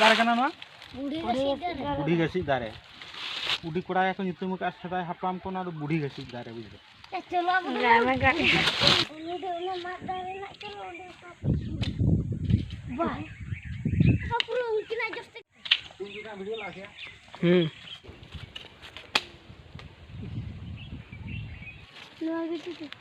ᱫᱟᱨᱮ ᱠᱟᱱᱟ ᱱᱚᱣᱟ ᱵᱩᱰᱷᱤ ᱜᱟᱹᱥᱤᱡ ᱫᱟᱨᱮ ᱵᱩᱰᱷᱤ ᱠᱚᱲᱟ ᱜᱮᱠᱚ ᱧᱩᱛᱩᱢ ᱟᱠᱟᱫᱼᱟ ᱥᱮᱫᱟᱭ ᱦᱟᱯᱲᱟᱢ ᱠᱚ ᱱᱚᱣᱟ ᱫᱚ ᱵᱩᱰᱷᱤ ᱜᱟᱹᱥᱤᱡ ᱫᱟᱨᱮ ᱵᱩᱡᱷᱟᱹᱣ ᱦᱮᱸ ᱱᱚᱣᱟ ᱜᱮ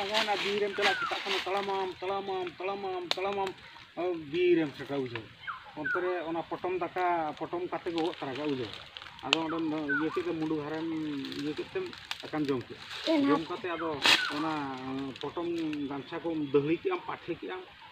ᱞᱟᱜᱟᱣᱮᱱᱟ ᱵᱤᱨᱮᱢ ᱪᱟᱞᱟᱜ ᱥᱮᱛᱟᱜ ᱠᱷᱚᱱ ᱛᱟᱲᱟᱢᱟᱢ ᱛᱟᱲᱟᱢᱟᱢ ᱛᱟᱲᱟᱢᱟᱢ ᱛᱟᱲᱟᱢᱟᱢ ᱵᱤᱨᱮᱢ ᱥᱮᱴᱟ ᱵᱩᱡᱷᱟᱹᱣ ᱚᱱᱛᱮ ᱨᱮ ᱚᱱᱟ ᱯᱚᱴᱚᱢ ᱫᱟᱠᱟ ᱯᱚᱴᱚᱢ ᱠᱟᱛᱮ ᱜᱚᱜ ᱛᱟᱨᱟ ᱠᱟᱜ ᱵᱩᱡᱷᱟᱹᱣ ᱟᱫᱚ ᱚᱸᱰᱮᱢ ᱤᱭᱟᱹ ᱠᱮᱫ ᱛᱮ ᱢᱩᱰᱩ ᱦᱟᱨᱮᱢ ᱤᱭᱟᱹ ᱠᱮᱫ ᱛᱮᱢ ᱫᱟᱠᱟᱢ ᱡᱚᱢ ᱠᱮᱫ ᱡᱚᱢ ᱠᱟᱛᱮ ᱟᱫᱚ ᱚᱱᱟ ᱯᱚᱴᱚᱢ ᱜᱟᱢᱪᱷᱟ ᱠᱚᱢ ᱫᱟᱹᱦᱲᱤ ᱠᱮᱫᱟᱢ ᱯᱟᱴᱷᱮ ᱠᱮᱫᱟᱢ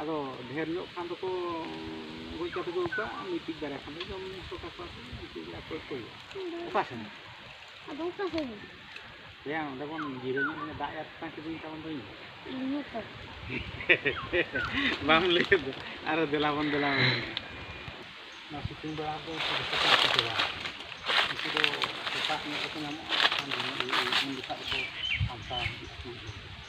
ᱟᱫᱚ ᱰᱷᱮᱹᱨ ᱧᱚᱜ ᱠᱷᱟᱱ ᱫᱚᱠᱚ ᱜᱚᱡ ᱠᱟᱛᱮ ᱠᱚ ᱟᱹᱜᱩ ᱠᱚᱣᱟ ᱢᱤᱫᱴᱤᱡ ᱵᱟᱨᱭᱟ ᱠᱷᱟᱱ ᱫᱚ ᱡᱚᱢ ᱧᱩ ᱦᱚᱪᱚ ᱠᱟᱠᱚᱣᱟ ᱠᱚ ᱩᱱᱠᱩ ᱜᱮ ᱟᱠᱚ ᱜᱮᱠᱚ ᱤᱭᱟᱹ ᱚᱠᱟ ᱥᱮᱱ ᱟᱫᱚ ᱚᱠᱟ ᱥᱮᱫ ᱭᱟ ᱚᱸᱰᱮ ᱵᱚᱱ ᱡᱤᱨᱟᱹ ᱧᱚᱜ ᱞᱮᱱᱟ ᱫᱟᱜ ᱮᱭᱟ ᱛᱟᱝ ᱠᱤᱫᱤᱧ ᱛᱟᱵᱚᱱ ᱫᱚᱧ ᱤᱧ ᱛᱚ ᱵᱟᱢ ᱞᱟᱹᱭ ᱫᱚ ᱟᱨ ᱫᱮᱞᱟ ᱵᱚᱱ ᱫᱮᱞᱟ ᱵᱚᱱ ᱚᱱᱟ ᱥᱤᱛᱩᱝ ᱵᱮᱲᱟ ᱫᱚ ᱡᱚᱛᱚ ᱠᱚ ᱪᱤᱠᱟᱹᱭᱟ ᱩᱱᱠᱩ ᱫᱚ ᱥᱮᱛᱟᱜ ᱧᱚᱜ ᱨᱮᱠᱚ ᱧᱟᱢᱚᱜᱼᱟ ᱩᱱ ᱡᱚᱠᱷᱟᱡ ᱫᱚᱠᱚ ᱥᱟᱢᱴᱟᱣ ᱦᱤᱡᱩᱜᱼᱟ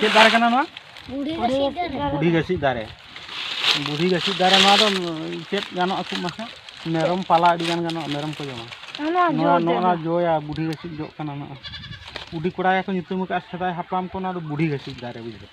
ᱪᱮᱫ ᱫᱟᱨᱮ ᱠᱟᱱᱟ ᱱᱚᱣᱟ ᱵᱩᱰᱷᱤ ᱜᱟᱹᱥᱤᱡ ᱫᱟᱨᱮ ᱵᱩᱰᱷᱤ ᱜᱟᱹᱥᱤᱡ ᱫᱟᱨᱮ ᱱᱚᱣᱟ ᱫᱚ ᱪᱮᱫ ᱜᱟᱱᱚᱜ ᱟᱠᱚ ᱢᱟᱥᱮ ᱢᱮᱨᱚᱢ ᱯᱟᱞᱟ ᱟᱹᱰᱤ ᱜᱟᱱ ᱜᱟᱱᱚᱜᱼᱟ ᱢᱮᱨᱚᱢ ᱠᱚ ᱡᱚᱢᱟ ᱱᱚᱣᱟ ᱱᱚᱣᱟ ᱡᱚᱭᱟ ᱵᱩᱰᱷᱤ ᱜᱟᱹᱥᱤᱡ ᱡᱚᱜ ᱠᱟᱱᱟ ᱱᱚᱣᱟ ᱵᱩᱰᱷᱤ ᱠᱚᱲᱟ ᱜᱮᱠᱚ ᱧᱩᱛᱩᱢ ᱟᱠᱟᱫᱼᱟ ᱥᱮᱫᱟᱭ ᱦᱟᱯᱲᱟᱢ ᱠᱚ ᱱᱚᱣᱟ ᱫᱚ ᱵᱩᱰᱷᱤ ᱜᱟᱹᱥᱤᱡ ᱫᱟᱨᱮ ᱵᱩᱡᱷᱟᱹᱣ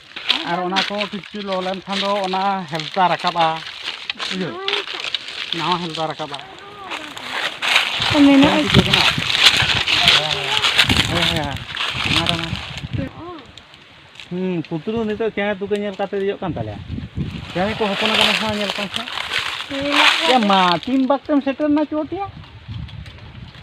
ᱟᱨ ᱚᱱᱟ ᱠᱚ ᱠᱤᱪᱷᱩ ᱞᱚ ᱞᱮᱱᱠᱷᱟᱱ ᱫᱚ ᱚᱱᱟ ᱦᱮᱞᱛᱟ ᱨᱟᱠᱟᱵᱼᱟ ᱤᱭᱟᱹ ᱱᱟᱣᱟ ᱦᱮᱞᱛᱟ ᱨᱟᱠᱟᱵᱼᱟ ᱢᱮᱱᱟᱜᱼᱟ ᱦᱮᱸ ᱦᱮᱸ ᱦᱮᱸ ᱯᱩᱛᱨᱩ ᱱᱤᱛᱚᱜ ᱪᱮᱬᱮ ᱛᱩᱠᱟᱹ ᱧᱮᱞ ᱠᱟᱛᱮ ᱫᱮᱡᱚᱜ ᱠᱟᱱ ᱛᱟᱞᱮᱭᱟ ᱪᱮᱬᱮ ᱠᱚ ᱦᱚᱯᱚᱱ ᱟᱠᱟᱱᱟ ᱥᱮ ᱧᱮᱞ ᱠᱚᱢ ᱥᱮ ᱢᱟ ᱛᱤᱱ ᱵᱟᱠᱛᱮᱢ ᱥᱮᱴᱮᱨᱱᱟ ᱪᱚᱴᱤᱭᱟ